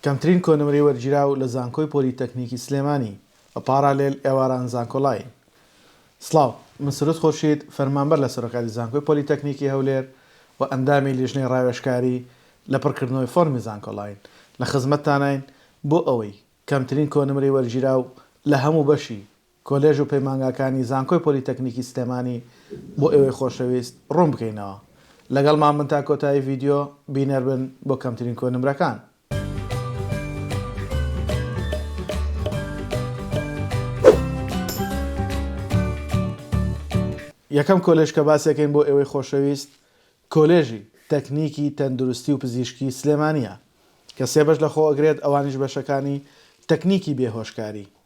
کەمترین کۆنمرەی وەرگیراو لە زانکۆی پۆلی تەکنیکی سلێمانی، بە پاڕالێل ئێواران زانکۆلاین. سڵاو، من سرود خورشید، فەرمانبەر لە سەرۆکاتی زانکۆی پۆلی تەکنیکی هەولێر و ئەندامی لیژنەی ڕاوێژکاری لە پڕکردنەوەی فۆرمی زانکۆلاین، لە خزمەتتاناین بۆ ئەوەی کەمترین کۆنمرەی وەرگیراو لە هەموو بەشی کۆلێژ و پەیمانگاکانی زانکۆی پۆلیتەکنیکی سلێمانی بۆ ئێوەی خۆشەویست ڕوون بکەینەوە لەگەڵمان بن تا کۆتایی ڤیدیۆ بینەر بن بۆ کەمترین کۆی نمرەکان. یەکەم کۆلێژ کە باسی ئەکەین بۆ ئێوەی خۆشەویست کۆلێژی تەکنیکی تەندروستی و پزیشکی سلێمانیە کە سێ بەش لەخۆ ئەگرێت ئەوانیش بەشەکانی تەکنیکی بێهۆشکاری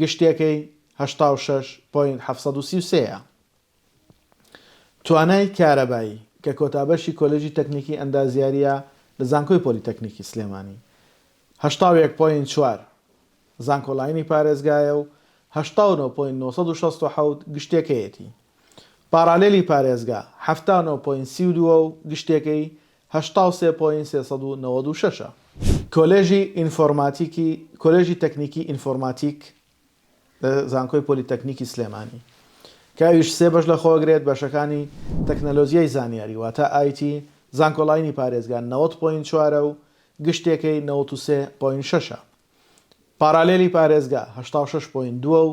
گشتیەکەی هەشتا و شەش پۆینت حەفت سەد و سی و سێ ە. توانای کارەبایی، کە کۆتا بەشی کۆلێژی تەکنیکی ئەندازیارییە لە زانکۆی پۆلیتەکنیکی سلێمانی، هەشتا و یەک پۆینت چوار زانکۆلاینی پارێزگایە و هەشتا و نۆ پۆینت نۆ سەد و شەست و حەوت گشتیەکەیەتی. پاڕالێلی پارێزگا، حەفتا و نۆ پۆینت سی و دوو ە و گشتیەکەی هەشتا و سێ پۆینت سێ سەد و نەوەد و شەش ە. کۆلێژی ئینفۆرماتیکی کۆلێژی تەکنیکی ئینفۆرماتیک لە زانکۆی پۆلیتەکنیکی سلێمانی کە ئەویش سێ بەش لەخۆگرێت بەشەکانی تەکنەلۆجیای زانیاری واتا IT زانکۆلاینی پارێزگا نەوەد پۆینت چوار ە و گشتێکەی نەوەد و سێ پۆینت شەش ە پارالێلی پارێزگا هەشتا و شەش پۆینت دوو ە و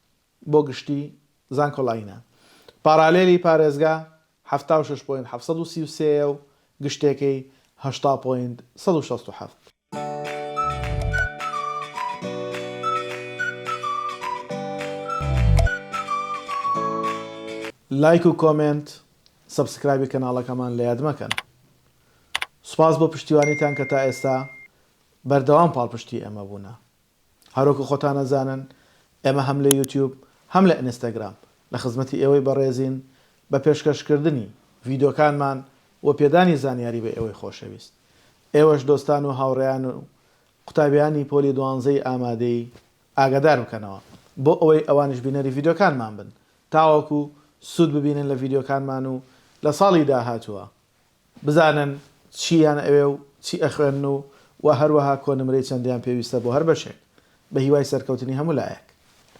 بۆ گشتی زانکۆلاینە پارالێلی پارێزگا حەفتا و شەش پۆینت حەفت سەد و سی و سێ یە و گشتێکەی هەشتا پۆینت سەد و شەست و حەفت. لایک و کۆمێنت سەبسکرایبی کەناڵەکەمان لە یاد مەکەن سوپاس بۆ پشتیوانیتان کە تا ئێستا بەردەوام پاڵپشتی ئێمە بوونە هەرۆکە خۆتان ئەزانن ئێمە هەم لە یوتیوب هەم لە ئینستاگرام لە خزمەتی ئێوەی بەڕێزین بە پێشکەش کردنی ڤیدۆکانمان و پێدانی زانیاری بە ئێوەی خۆشەویست ئێوەش دۆستان و هاوڕێیان و قوتابیانی پۆلی دوانزەی ئامادەی ئاگادار بکەنەوە بۆ ئەوەی ئەوانیش بینەری ڤیدۆکانمان بن تاوەکو سود ببینن لە ڤیدۆکانمان و لە ساڵی داهاتووە بزانن چییان ئەوێ و چی ئەخوێنن و وە هەروەها کۆنمرەی چەندیان پێویستە بۆ هەر بەشێک. بە هیوای سەرکەوتنی هەموو لایەک.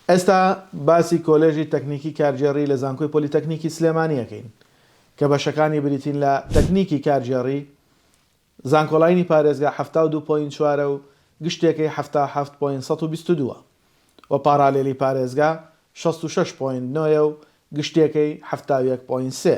ئێستا باسی کۆلێژی تەکنیکی کارگێڕی لە زانکۆی پۆلیتەکنیکی سلێمانی ئەکەین کە بەشەکانی بریتین لە، تەکنیکی کارگێڕی، زانکۆلاینی پارێزگا حەفتا و دوو پۆینت چوار ە و گشتێکەی حەفتا و حەفت پۆینت سەد و بیست و دوو و پاڕالێلی پارێزگا شەست و شەش پۆینت نۆ ە و گشتێکەی حەفتا و یەک پۆینت سێ.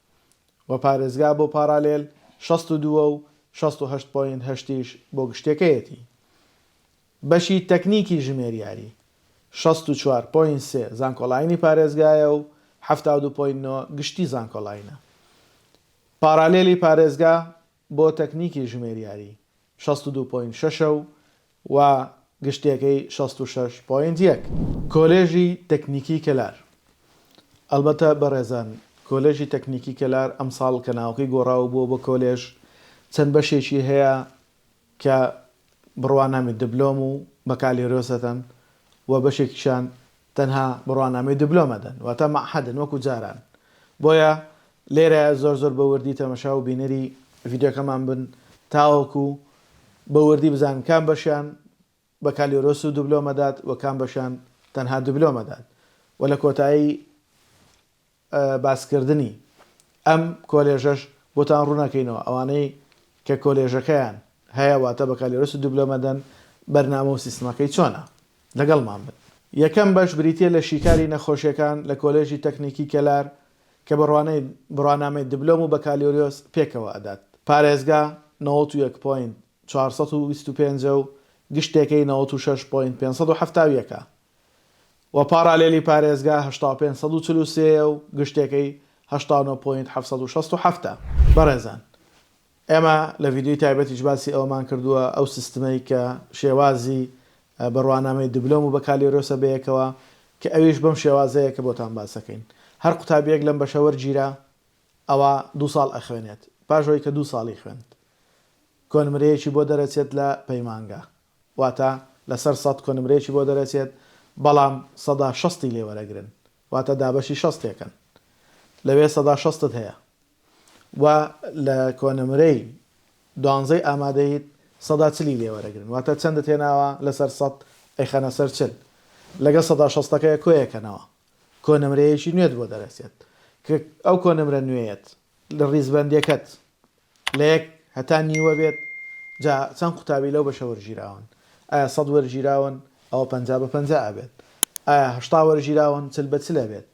و پارێزگا بۆ پاڕالێل شەست و دوو و شەست و هەشت پۆینت هەشتیش بۆ گشتێکەیەتی. بەشی تەکنیکی ژمێریاری، شەست و چوار پۆینت سێ زانکۆڵاینی پارێزگایە و حەفتا و دوو پۆینت نۆ گشتی زانکۆڵاینە. پاڕالێلی پارێزگا بۆ تەکنیکی ژمێریاری شەست و دوو پۆینت شەشە و و گشتیەکەی شەست و شەش پۆینت یەک. کۆلێژی تەکنیکی کەلار ئەلبەتە بەڕێزان کۆلێژی تەکنیکی کەلار ئەمساڵ کە ناوەکەی گۆڕا و بووە بە کۆلێژ چەند بەشێکی هەیە کە بڕوانامی دبلۆم و بەکالێرۆسەتەن و بەشێکیشان تەنها بڕوانامەی دبلۆم ئەدەن واتە مەعهەدن وەکو جاران بۆیە لێرەیە زۆر زۆر بە وردی تەمەشا و بینەری ڤیدیۆکەمان بن تاوەکو بە وردی بزانن کام بەشیان بەکالیۆرۆس و دبلۆم ئەدات و کام بەشیان تەنها دبلۆم ئەدات و لە کۆتایی باسکردنی ئەم کۆلێژەش بۆتان ڕوونەکەینەوە، ئەوانەی کە کۆلێژەکەیان هەیە واتە بەکالۆرۆسی دوبلۆمەدەن بەرنامە و سیستمەکەی چۆنە؟ لەگەڵمان بن. یەکەم بەش بریتیە لە شیکاری نەخۆشیەکان لە کۆلێژی تەکنیکی کەلار کە بڕوانەی بڕوانامەی دبلۆم و بەکالۆریۆس پێکەوە ئەدات پارێزگا نەوەت و یەک پۆینت چوار سەد و بیست و پێنج ە و گشتێکەی نەوەت و شەش پۆینت پێنج سەد و حەفتا و یەک ە و پارالێلی پارێزگا هەشتا و پێنج سەد و چل و سێ یە و گشتێکەی هەشتا و نۆ پۆینت حەفت سەد و شەست و حەفت ە. بەڕێزان ئێمە لە ڤیدیۆی تایبەتیش باسی ئەوەمان کردووە ئەو سیستمەی کە شێوازی بڕوانامەی دبلۆم و بەکالۆریۆسە بەیەکەوە کە ئەویش بەم شێوازەیە کە بۆتان باس دەکەین هەر قوتابیەک لەم بەشە وەرگیرا ئەوا دوو ساڵ ئەخوێنێت پاش ئەوەی کە دوو ساڵی خوێند کۆنمرەیەکی بۆ دەرەچێت لە پەیمانگا واتە لەسەر سەد کۆنمرەیەکی بۆ دەرەچێت بەڵام سەدا شەستی لێ وەرەگرن واتە دابەشی شەستێکن لەوێ سەدا شەستت هەیە وە لە کۆنمرەی دوانزەی ئامادەیت سەدا چلی لێ وەرەگرن واتە چەندت هێناوە لەسەر سەد ئەیخەنە سەر چل لەگەڵ سەدا شەستەکەیە کۆیەکەنەوە کۆنمرەیەکی نوێت بۆ دەرەچێت کە ئەو کۆنمرە نوێیەت لە ڕیزبەندیەکەت لە یەک هەتا نیوە بێت جا چەند قوتابی لەو بەشە وەرگیراون ئایا سەد وەرگیراون ئەوە پەنجا بە پەنجا ئەبێت ئایا هەشتا وەرگیراون چل بە چل ئەبێت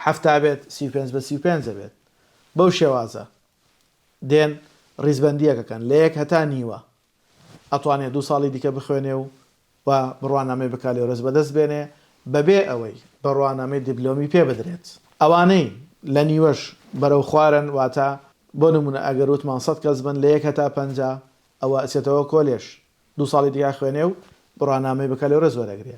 حەفتا بێت سی و پێنج بە سی و پێنج ئەبێت بەو شێوازە دێن ڕیزبەندیەکەکەن لە یەک هەتا نیوە ئەتوانێ دوو ساڵی دیکە بخوێنێ و و بڕوانامەی بەکالۆرێس بەدەست بێنێ بەبێ ئەوەی بڕوانامەی دیبلۆمی پێ بدرێت ئەوانەی لە نیوەش بەرەو خوارن واتە بۆ نموونە ئەگەر وتمان سەد کەس بن لە یەک هەتا پەنجا ئەوە ئەچێتەوە کۆلێژ دوو ساڵی دیکە ئەخوێنێ و بڕوانامەی بەکالۆرێس وەرەگرێ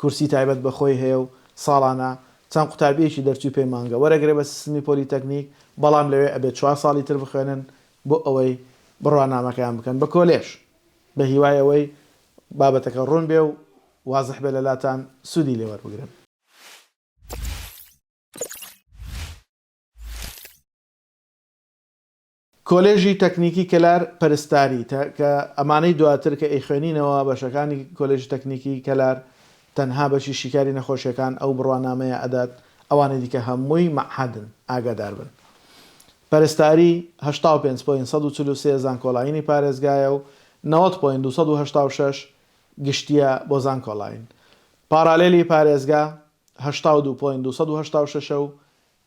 کورسی تایبەت بە خۆی هەیە و ساڵانە چەند قوتابیەکی دەرچووی پەیمانگە وەرەگرێ بە سیستمی پۆلیتەکنیک بەڵام لەوێ ئەبێ چوار ساڵی تر بخوێنن بۆ ئەوەی بڕوانامەکەیان بکەن بە کۆلێژ بە هیوای ئەوەی بابەتەکە ڕوون بێ و وازح بێ لەلاتان سوودی لێ وەربگرن. کۆلێژی تەکنیکی کەلار پەرستاری تە کە ئەمانەی دواتر کە ئەیخوێنینەوە بەشەکانی کۆلێژی تەکنیکی کەلار تەنها بەشی شیکاری نەخۆشیەکان ئەو بڕوانامەیە ئەدات ئەوانی دیکە هەمووی مەعهەدن ئاگاداربن پەرستاری هەشتا و پێنج پۆینت سەد و چل و سێ زانکۆلاینی پارێزگایە و نەوەد پۆینت دوو سەد و هەشتا و شەش گشتیە بۆ زانکۆلاین پاڕالێلی پارێزگا هەشتا و دوو پۆینت دوو سەد و هەشتا و شەش و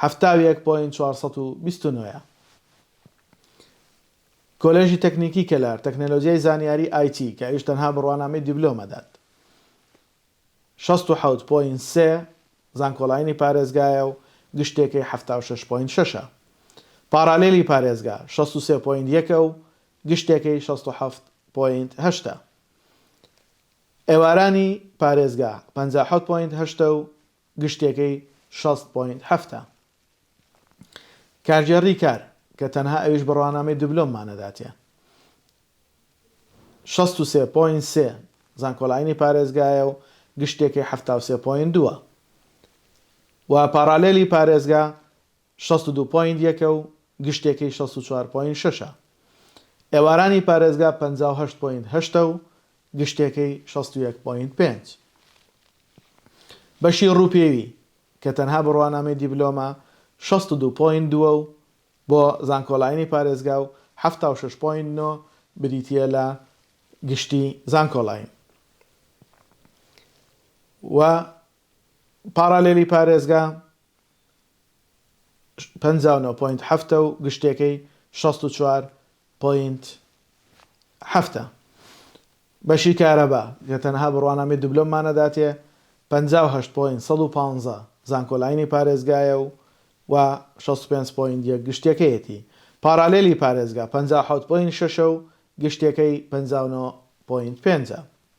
حەفتا و یەک پۆینت چوار سەد و بیست و نۆ ە. کۆلێژی تەکنیکی کەلار، تەکنەلۆجیای زانیاری IT، کە ئەویش تەنها بڕوانامەی دیبلۆم ئەدات، شەست و حەوت پۆینت سێ، زانکۆلاینی پارێزگایە و گشتێکەی حەفتا و شەش پۆینت شەش ە. پاڕالێلی پارێزگا، شەست و سێ پۆینت یەک ە و گشتێکەی شەست و حەفت پۆینت هەشت ە. ئێوارانی پارێزگا، پەنجا و حەوت پۆینت هەشت ە و گشتیەکەی شەست پۆینت حەفتا. کارگێڕی کار کە تەنها ئەویش بڕوانامەی دبلۆممان ئەداتێ شەست و سێ پۆینت سێ زانکۆلاینی پارێزگایە و گشتیەکەی حەفتا و سێ پۆینت دووە و پاڕالێلی پارێزگا شەست و دوو پۆینت یەکە و گشتێکەی شەست و چوار پۆینت شەشە. ئێوارانی پارێزگا پەنجا و هەشت پۆینت هەشتە و گشتێکەی شەست و یەک پۆینت پێنج. بەشی رووپێوی، کە تەنها بڕوانامەی دیبلۆمە، شەست و دوو پۆینت دووە و بۆ زانکۆلاینی پارێزگا و حەفتا و شەش پۆینت نۆ بریتییە لە گشتی زانکۆلاین و پاڕالێلی پارێزگا. پەنجا و نۆ پۆینت حەفتە و گشتێکەی شەست و چوار پۆینت حەفتە. بەشی کارەبا، کە تەنها بڕوانامەی دبلۆممان ئەداتێ، پەنجا و هەشت پۆینت سەد و پازدە زانکۆلاینی پارێزگایە و و شەست و پێنج پۆینت یەک گشتێکەیەتی. پارالێلی پارێزگا، پەنجا و حەوت پۆینت شەشە و گشتێکەی پەنجا و نۆ پۆینت پێنجە.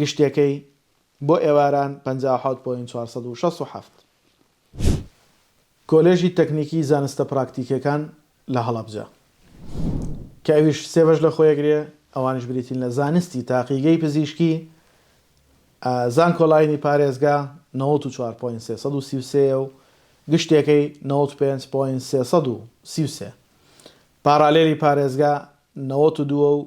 گشتیەکەی بۆ ئێواران پەنجا و حەوت پۆینت چوار سەد و شەست و حەفت. کۆلێژی تەکنیکی زانستە پراکتیکیەکان لە هەڵەبجە کە ئەویش سێ بەش لە خۆیەگرێ ئەوانیش بریتین لە زانستی تاقیگەی پزیشکی زانکۆلاینی پارێزگا نەوەد و چوار پۆینت سێ سەد و سی و سێ یە و گشتیەکەی نەوەد و پێنج پۆینت سێ سەد و سی و سێ. پاڕالێلی پارێزگا نەوەد و دوو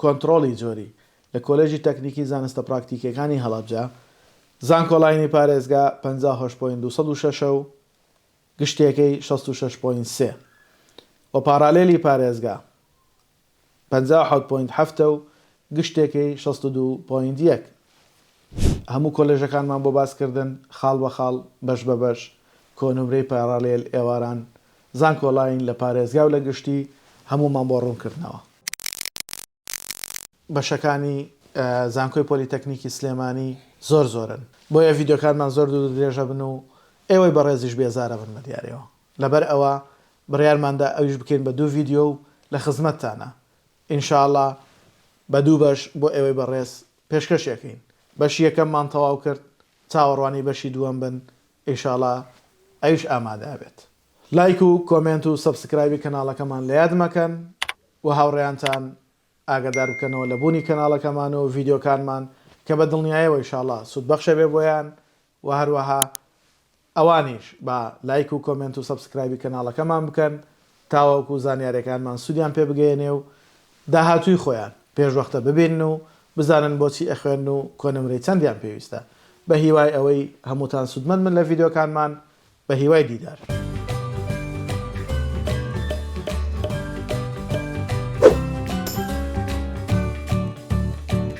کۆنتڕۆڵی جۆری، لە کۆلێژی تەکنیکی زانستە پراکتیکییەکانی هەڵەبجە، زانکۆلاینی پارێزگا، پەنجا و هەشت پۆینت دوو سەد و شەش ە و گشتییەکەی شەست و شەش پۆینت سێ و پاڕالێلی پارێزگا، پەنجا و حەوت پۆینت حەفت ە و گشتییەکەی شەست و دوو پۆینت یەک. هەموو کۆلێژەکانمان بۆ باسکردن، خاڵ بە خاڵ، بەش بە بەش، کۆنمرەی پاڕالێل، ئێواران، زانکۆلاین لە پارێزگا و لە گشتی هەموومان بۆ ڕوونکردنەوە. بەشەکانی زانکۆی پۆلیتەکنیکی سلێمانی زۆر زۆرن بۆیە ڤیدیۆکانمان زۆر دوور و درێژ ئەبن و ئێوەی بەڕێزیش بێزار ئەبن بە دیاریەوە لەبەر ئەوە بڕیارمان دا ئەویش بکەین بە دوو ڤیدیۆ و لە خزمەتتانە ان شاء اللە بە دوو بەش بۆ ئێوەی بەڕێز پێشکەشی ئەکەین بەشی یەکەممان تەواو کرد چاوەڕوانی بەشی دووەم بن ئیشاڵا ئەویش ئامادە ئەبێت. لایک و کۆمێنت و سەبسکرایبی کەناڵەکەمان لە یاد مەکەن و هاوڕێیانتان ئاگادار بکەنەوە لە بوونی کەناڵەکەمان و ڤیدیۆکانمان کە بە دڵنیایەوە ئیشاڵا سوود بەخش ئەبێ بۆیان و هەروەها ئەوانیش با لایک و کۆمێنت و سەبسکرایبی کەناڵەکەمان بکەن تاوەکو زانیاریەکانمان سودیان پێ بگەیەنێ و داهاتووی خۆیان پێشوەختە ببینن و بزانن بۆچی ئەخوێنن و کۆنمرەی چەندیان پێویستە بەهیوای ئەوەی هەمووتان سودمەند بن لە ڤیدیۆکانمان بەهیوای دیدار.